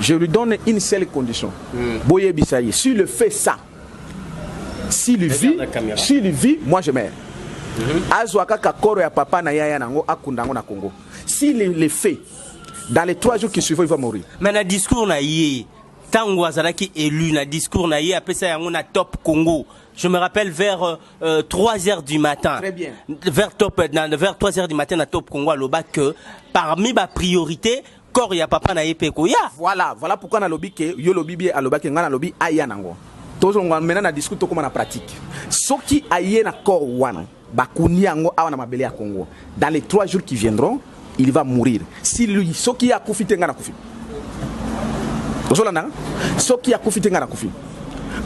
Je lui donne une seule condition. Mm. Boyebisa ye. S'il le fait ça, s'il vit, s'il vit, moi je meurs. Mm -hmm. Azwa kaka koro ya papa na yaya nango akunda yango na Congo. S'il le fait, dans les trois jours qui suivent, il va mourir. Mais na discours na ye, tango azalaki élu na discours na ye apesa yango na Top Congo. je me rappelle vers euh, euh, 3 heures du matin. Très bien. Vers, top, euh, vers 3 heures du matin, à Top Congo, Loba, que parmi ma priorité, corps ya papa na ye pe ekoya. Voilà, voilà pourquoi na lobi que yo lobi bie alobaki nga na lobi aya na ngo. Tozonga mena na discours tokoma na pratique. Soki aye na corps wana bakundi yango awa na mabele ya Congo dans les trois jours qui viendront il va mourir si lui soki ye akufi te nga na kufi ozolanda soki ye akufi te nga na kufi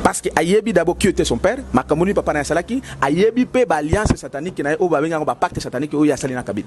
parce que ayebi d'abord qui était son père makambo nini papa na ye asalaki ayebi mpe baalliance satanique na ye oyo babengi yango bapacte satanique oyo ye asali na kabila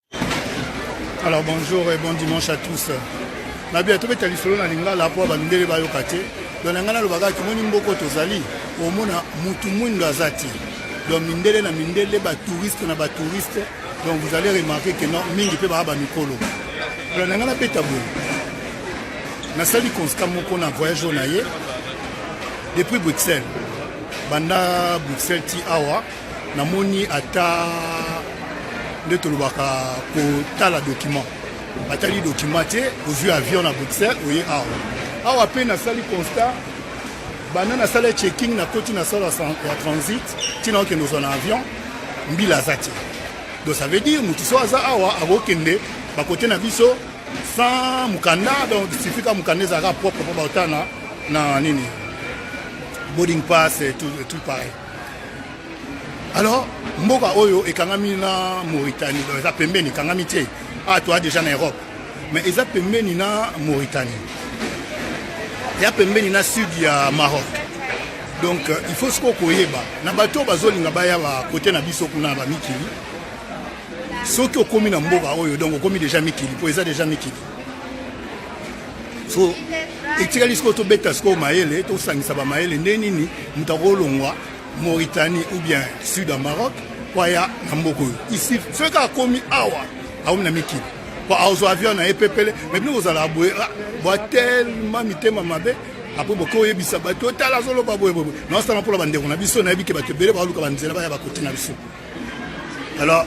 Alors bonjour et bon dimanche à tous. Na bien tobeta lisolo na lingala mpo bandele bayoka te don na ngai nalobaka kimoni mboko tozali omona mutu mwindo aza te don mindele na mindele batouriste na batouriste donc vous allez remarquer que non mingi mpe baa bamikolo don na ngai nabeta boye nasali constat moko na voyage oyo na ye depuis bruxelles banda bruxelles ti awa namoni ata nde tolobaka kotala document batali document te ozwi avion na bruxelles oye awa awa mpe nasali constat banda nasala checking nakoti na sala ya transit ntina okende ozwa na avion mbila aza te donc ça veut dire motu so aza awa akokende bakote na biso sans mokanda donc suffit ka mokanda ezalaka propre mpo baotana na nini boarding pass et tout, et tout pareil Alors, mboka oyo ekangami na Mauritanie, donc eza pembeni ekangami te. Ah, toi déjà na Europe. Mais eza pembeni na Mauritanie. Ya pembeni na sud ya Maroc. Donc euh, il faut siko koyeba na bato bazolinga baya ba kote na biso kuna ba mikili. Soki okomi na mboka oyo donc okomi déjà mikili, po eza déjà mikili. so etikali sikoyo tobeta sikoyo mayele tosangisa bamayele nde nini moto akolongwa mauritanie ou bien sud ya maroc mpo aya na mboka oyo isi soki akomi awa akomi na mikili mpo azwa avion na ye pepele me bino kozala boye ah, bwa telema mitema mabe apres boke oyebisa bato otala azoloba boye boye naosala mpo na bandeko na biso nayebi ke bato ebele baluka banzela baya bakoti na biso alors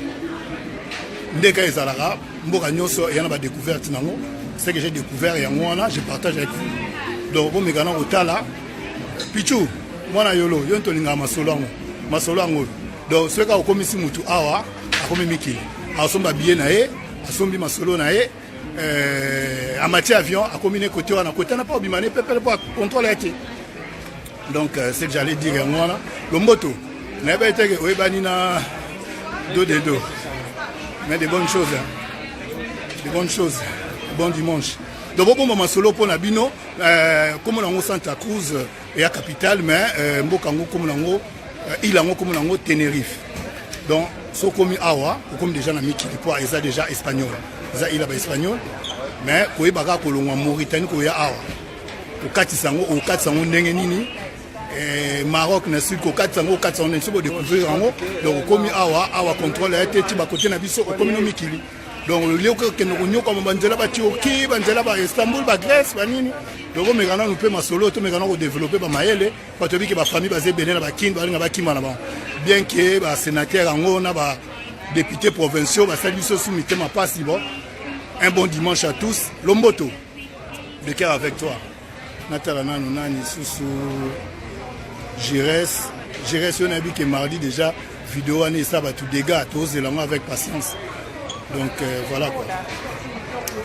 ndeka ezalaka mboka nyonso eya na badécouverte nango ce que j'ai découvert yango wana je partage avec vous donc bomeka na kotala pichu mwana yolo yo nto olingaka masolo yango masolo yango oyo donc soki kaka okomisi motu awa akomi mikili asomba biye na ye asombi masolo na ye Euh, amati avion akomi ne kote wana kotana mpo obima ne pepele mpo contrôle ya te donc euh, ce que j'allais dire yango wana lomboto nayebaki teke oyebani na do de do mais de bonnes choses de bonnes choses bon dimanche donc bobomba masolo mpo na bino euh, komona yango santa cruz eya capitale mais euh, mboka yango komo nango euh, ile yango komo nango tenerife donc so okomi awa okomi deja na mikili mpo eza deja espagnol eza ile ya baespagnol mais koyeba kaka kolongwa mauritanie koya awa kokatisa yango okatisa yango ndenge nini eh, maroc na sud kokatisa yango okatisa yango ndenge soki odecouvrir yango donc okomi awa awa controle ya te ti bakote na biso okomi no mikili donc olioki okende konyokwama banzela baturki banzela ba istanbul bagrèce banini donc omeka nanu mpe masolo tomeka na kodeveloppe bamayele bato yebike bafamille baza ebele na bakini balinga bakima na bango bien ke basénateur yango na badepute provinciaux basali biso su mitema mpasi bon un bon dimanche à tous lomboto de cœur avec toi natala nanu nani lisusu gires gires oyo nayebi ke mardi déjà video wana esa bato dégât tozela yango avec patience donc euh, voilà quoi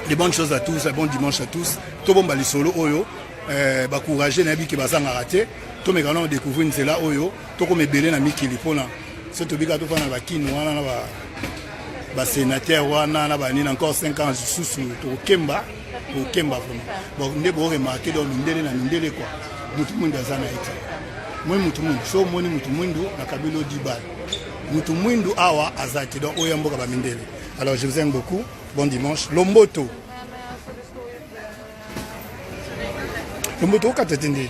de bonnes choses à tous bon dimanche à tous tobomba lisolo oyo euh, bacourage nayebi ke bazangaka te tomeka nano découvrir nzela oyo tokoma ebele na mikili mpona so tobika tofana na bakini wana na basenatere wana na banini encore 5 ans lisusu tokokemba kokemba vraimen bon nde boremarke donc mindele na mindele kua motu mwindu aza na ye te moi motu mwindu so omoni motu mwindu na kabilo dibal motu mwindu awa aza te donc oyo ya mboka bamindele alors je vous aime beaucoup bon dimanche lomboto lomboto okata te ndeni